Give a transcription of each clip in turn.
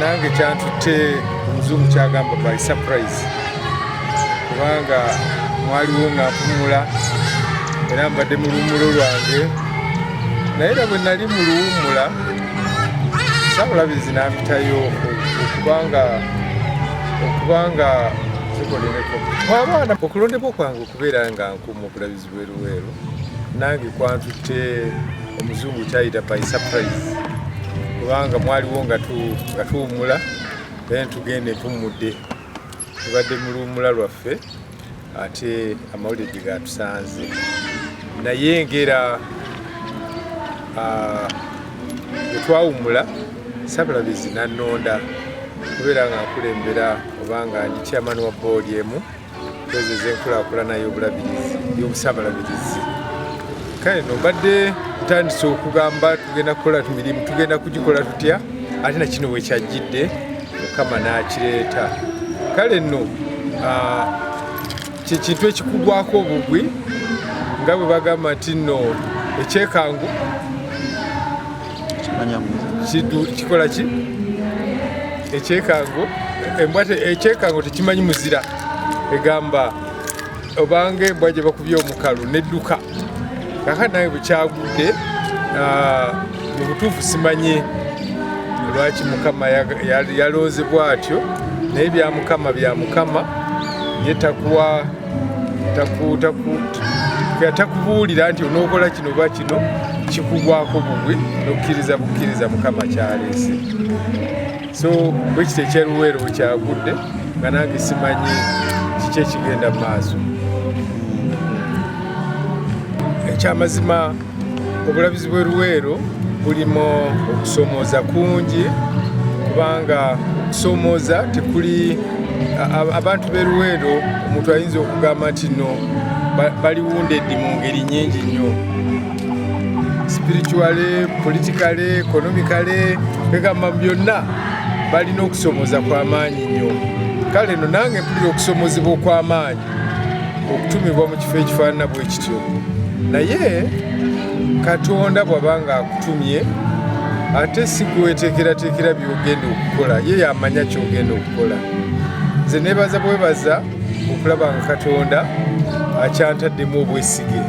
nange kyantutte omuzungu kyagamba by surprise kubanga mwaliwo nga mpumula era mbadde mu luwumulo lwange naye era bwe nali mu luwumula sabulabizi nampitayo okubanga okubanga zikoleleko abaana okulondebwa kwange okubeera nga nkumu okulabizi Luweero nange kwantutte omuzungu kyayita by surprise kubanga mwaliwo nga tuwumula then tugenda entummudde tubadde mu luwumula lwaffe ate amawulire gye gatusanze naye ngera ah, etwawumula sabulabizi nanonda kubeera nga nkulembera obanga ndi chairman wa boodi emu ezo ezenkulaakulana y'obulabirizi y'obusabalabirizi kale no mbadde ntandise okugamba tugenda kukola tumirimu tugenda kugikola tutya ate nakino wekyajjidde mukama n'akireeta kale nno kyekintu ekikugwako obugwi nga bwe bagamba nti nno ekyekangu kikola ki ekyekango embwa ekyekango tekimanyi muzira egamba obanga embwa gye bakubye omukalu nedduka kaka nawe bukyagudde ah, mu butuufu simanyi lwaki mukama yalonze bwatyo naye bya mukama bya mukama yetakuwa takubuulira nti onookola kino oba kino kikugwako bugwi nokukkiriza bukkiriza mukama kyaleese so bwekiti ekyeruweero wekyagudde nga nange simanyi kiki ekigenda mu maaso ekyamazima obulabizi bwe luweero bulimu okusomooza kungi kubanga okusomooza tekuli abantu be luweero omuntu ayinza okugamba nti no baliwundeddi mu ngeri nyingi nnyo spirituale politikale ekonomikale egamba byonna balina okusomooza kw'amaanyi nnyo kale no nange mpulira okusomozebwa okw'amaanyi okutumibwa mu kifo ekifaanana bwe kityo naye katonda bw'aba ng'akutumye ate si gweweteekerateekera by'ogenda okukola ye yamanya ky'ogenda okukola nze nebaza bwebaza okulaba nga katonda akyantaddemu obwesige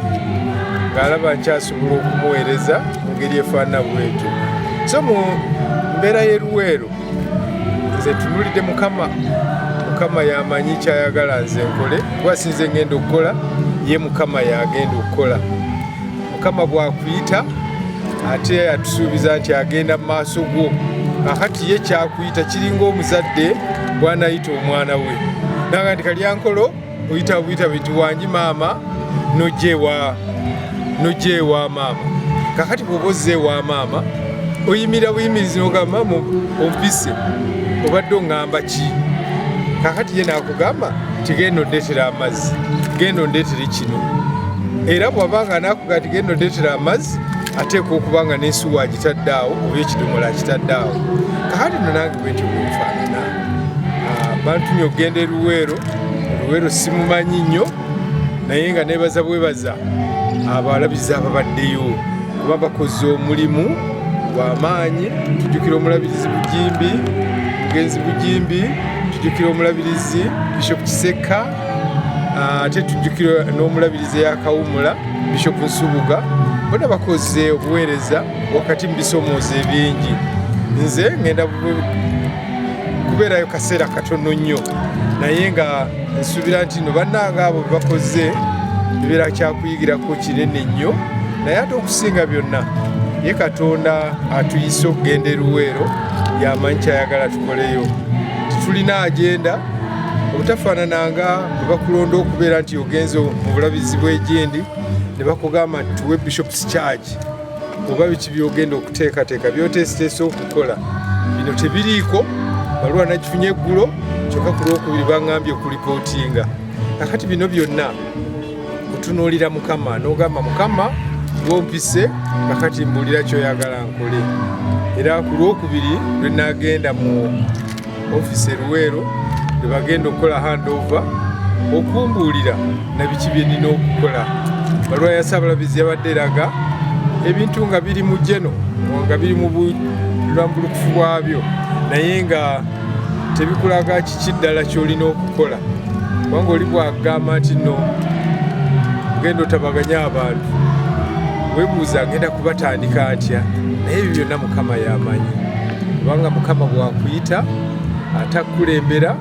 ng'alaba nkyasobola okumuweereza mu ngeri efaanana bwetyo so mu mbeera y'eruweero nze tunulidde mukama mukama yamanyi kyayagala nze nkole kuba sinze ngenda okukola ye mukama yagenda okukola mukama bwakuyita ate atusuubiza nti agenda mu maaso gwo akati ye kyakuyita kiringa omuzadde bwanayita omwana we nanga nti kalyankolo oyita buyita bintu wangi maama nojewa nojewa maama kakati bwoba ozze ewa maama oyimira buyimirizi nogamba maama ompise obadde ongamba ki kakati ye nakugamba tigenda ondetera amazzi genda ondetere kino era bwabanga nakuga tigenda ondetera amazzi ateekwa okuba nga nensuwa agitadde awo oba ekidomola akitadde awo kakati nonange bwentyo bwenfaanana bantumye okugenda eruweero eruweero simumanyi nnyo naye nga nebaza bwebaza abalabizi ababaddeyo kuba bakoze omulimu gwamaanyi tujukira omulabirizi bujimbi mugenzi bujimbi tujukira omulabirizi bishop kiseka ah, ate tujukira n'omulabirizi eyakawumula bishop nsubuga bona bakoze obuweereza wakati mu bisomooza ebingi nze ngenda kubeerayo kaseera katono nnyo naye nga nsuubira nti no bannanga abo bebakoze ebeera kyakuyigirako kinene nnyo naye ate okusinga byonna ye katonda atuyise okugenda eruweero yamanyi kyayagala tukoleyo titulina agenda obutafaanana nga bwe bakulonda okubeera nti ogenze mu bulabizi bw'egyendi ne bakugamba nti tuwe bishops charge oba biki byogenda okuteekateeka byoteesiteesa okukola bino tebiriiko baluwa nakifunye eggulo kyokka ku lwokubiri baŋambye okulipootinga kakati bino byonna otunuulira mukama n'ogamba mukama wompise kakati mbuulira kyoyagala nkole era ku lwokubiri lwe nagenda mu ofisi eruweero ebagenda okukola handover okumbuulira nabiki byenina okukola balwa ya sabalabizi yabadde eraga ebintu nga biri mu jeno nga biri mu bulambulukufu bwabyo naye nga tebikulaga kiki ddala kyolina okukola kubanga oli bwagamba nti no ogenda otabaganya abantu webuuza agenda kubatandika atya naye ebyo byonna mukama yamanyi kubanga mukama bwakuyita atakukulembera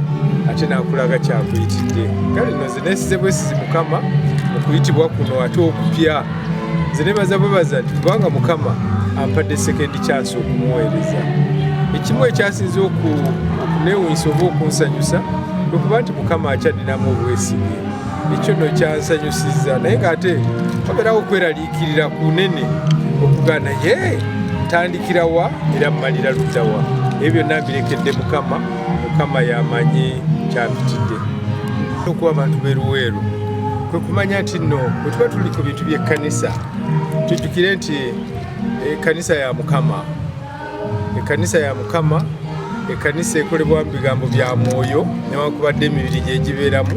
ate nakulaga kyakuyitidde kale no zinesize bwesizi mukama okuyitibwa kuno ate okupya nze nebaza bwebaza nti kubanga mukama ampadde sekendi kyansi okumuweereza ekimu ekyasinze okunewunyisa oba okunsanyusa okuba nti mukama akyadinamu obwesige ekyo no kyansanyusiza naye ngaate oberawo okwerali Ikirira kunene okugana ye tandikira wa era malira lutawa ebyo nabirekedde mukama mukama yamanyi kyabitidde okuba abantu beruweeru kwe kumanya nti nno bwe tuba tuli ku bintu by'ekkanisa tujjukire nti ekkanisa eh, ya mukama ekkanisa ya mukama ekkanisa ekolebwa mu bigambo bya mwoyo newankubadde emibiri gyegibeeramu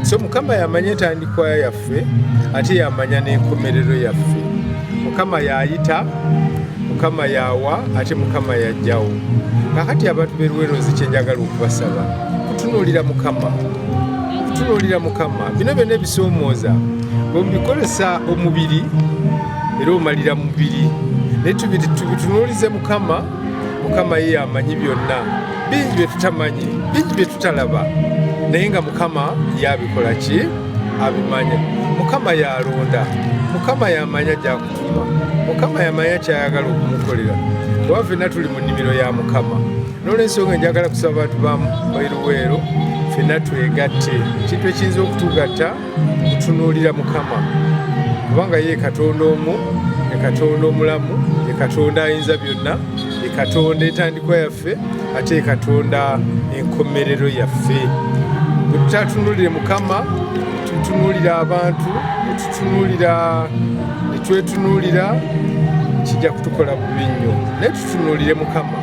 so mukama yamanya entandikwa yaffe ate yamanya n'enkomerero yaffe mukama yayita mukama yawa ate mukama yajjawo kakati abantu beruwerozi kyenjagala okubasaba kutunuulira mukama kutunuulira mukama bino byona ebisoomooza bwemubikozesa omubiri era omalira mubiri naye tubitunuulize mukama mukama ye yamanyi byonna bingi bye tutamanyi bingi bye tutalaba naye nga mukama yabikola ki abimanya mukama yalonda mukama yamanya gyakutuma mukama yamanya kyayagala okumukolera oba fenna tuli mu nnimiro ya mukama nolwensonga enjagala kusaba bantu bamu bairuweero fenna twegatte ekintu ekiyinza okutugatta tutunuulira mukama kubanga ye katonda omu ekatonda omulamu ekatonda ayinza byonna ekatonda entandikwa yaffe ate ekatonda enkomerero yaffe bwetutatunulire mukama tutunulira abantu netutunulira netwetunulira kijja kutukola bubi nnyo tunuulire mukama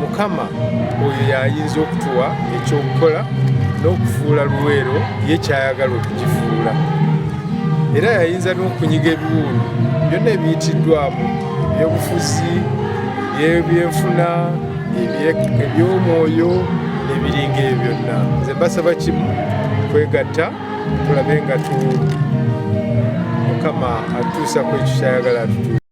mukama oyo yayinza okutuwa ekyokukola n'okufuula luweero ye kyayagala okugifuula era yayinza n'okunyiga ebiwundu byonna ebiyitiddwamu ebyobufuzi ebyenfuna ebyomwoyo ebiringa ebyo byonna nze mbasaba kimu kwegatta tulabe nga tu mukama atuusa ku ekyo kyayagala atutu